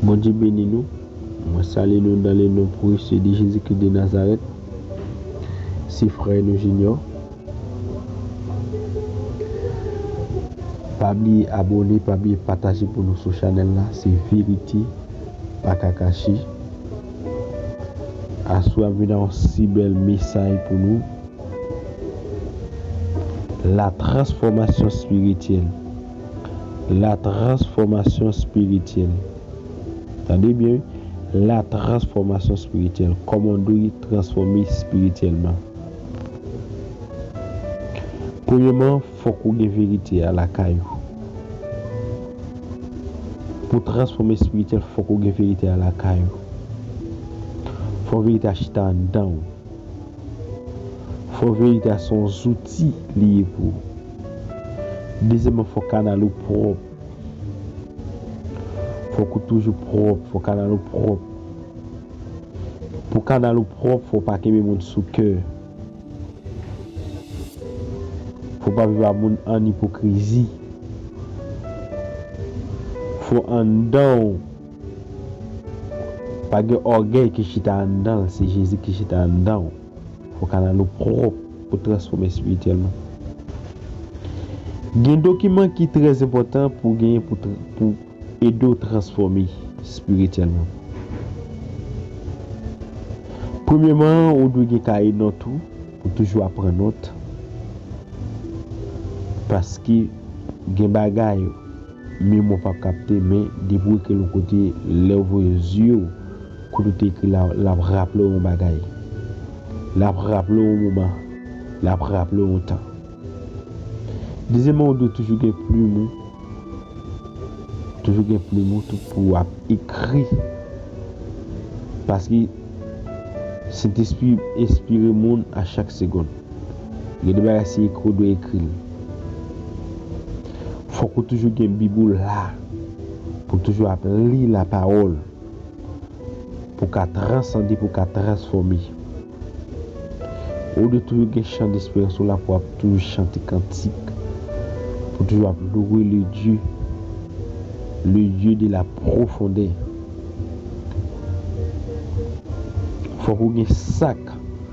Bondye beni nou, mwen salye nou dan le non prese de Jezi Kris de Nazarèt. Se frè nou Junior. Pa bliye abone, pa bliye pataje pou nou sou chanèl la, se verite pa ka kache. Aswè ap vin a yon si bèl mesay pou nou. La transfòmasyon spirityèl. Latransfòmasyon spirityèl. Tande byen wi, latransfòmasyon spirityèl. Kòman w dwe transfòme spirityèlman. Premyèman, fòk ou gen verite a lakay ou. Pou w transfòme spirityèl, fòk ou gen verite a lakay ou. Fòk verite a chita anndan ou. Fò verite a se yon zouti li ye pou ou. Dezyèmman fò kanal ou pwòp. Fò k ou toujou pwòp, fò kanal ou pwòp. Pou kanal ou pwòp fò w pa kenbe moun sou kè. Fò w pa viv ak moun ann ipokrizi. Fò anndan w. Pa gen ògèy ki chita anndan l se Jezi ki chita anndan w. Fò kanal ou pwòp pou transfòme espirityèlman. Gen dokiman ki trè enpòtan pou genyen pou ede w transfòme espirityèlman. Premyèman an ou dwe gen kaye nòt ou pou toujou ap pran nòt paske gen bagay Memwa pap kapte men depi w ekri l yon kote lè w voye zye w kote w te ekri la l ap raple w yon bagay. L ap raple w yon moman. L ap raple w yon tan. Dezyèmman ou dwe toujou gen plim ou toujou gen plim ou tou pou w ap ekri paske Sentespri enspire moun a chak segonn. Gen de bagay se ekri w dwe ekri l. Fòk ou toujou gen bib ou la pou toujou ap li la pawòl pou ka transande pou ka transfòme ou dwe toujou gen chan desperans ou la pou ap toujou chante kantik pou toujou ap loure le Dye le Dye de la pwofondè fòk ou gen sak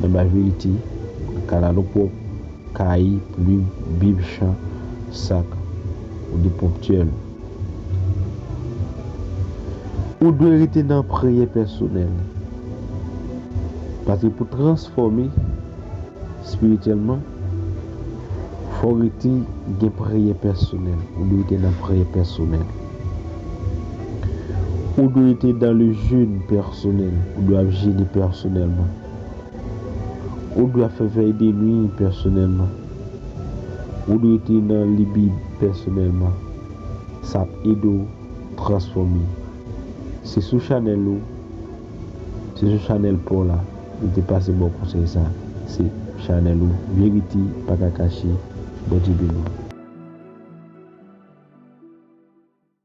Nan bay verite, kalalou pwòp, kaye, plim, bib, chan, sak, ou de ponptyèl. Ou dwe rete nan priyè pèsonèl. Paske pou transfòme spirityèlman, fò w rete gen priyè pèsonèl. Ou dwe rete nan priyè pèsonèl. Ou dwe te dans le jeune pèsonèl, ou dwe ap jene pèsonèlman. Ou dwe ap fè vèy de nwi pèsonèlman. Ou dwe te nan li Bib pèsonèlman. Sa ap ede w transfòme. Se sou chanèl ou, se sou chanèl pa w la li te pase ba w konsèy sa. Se chanèl ou Verite pa ka kache. Bondye beni w.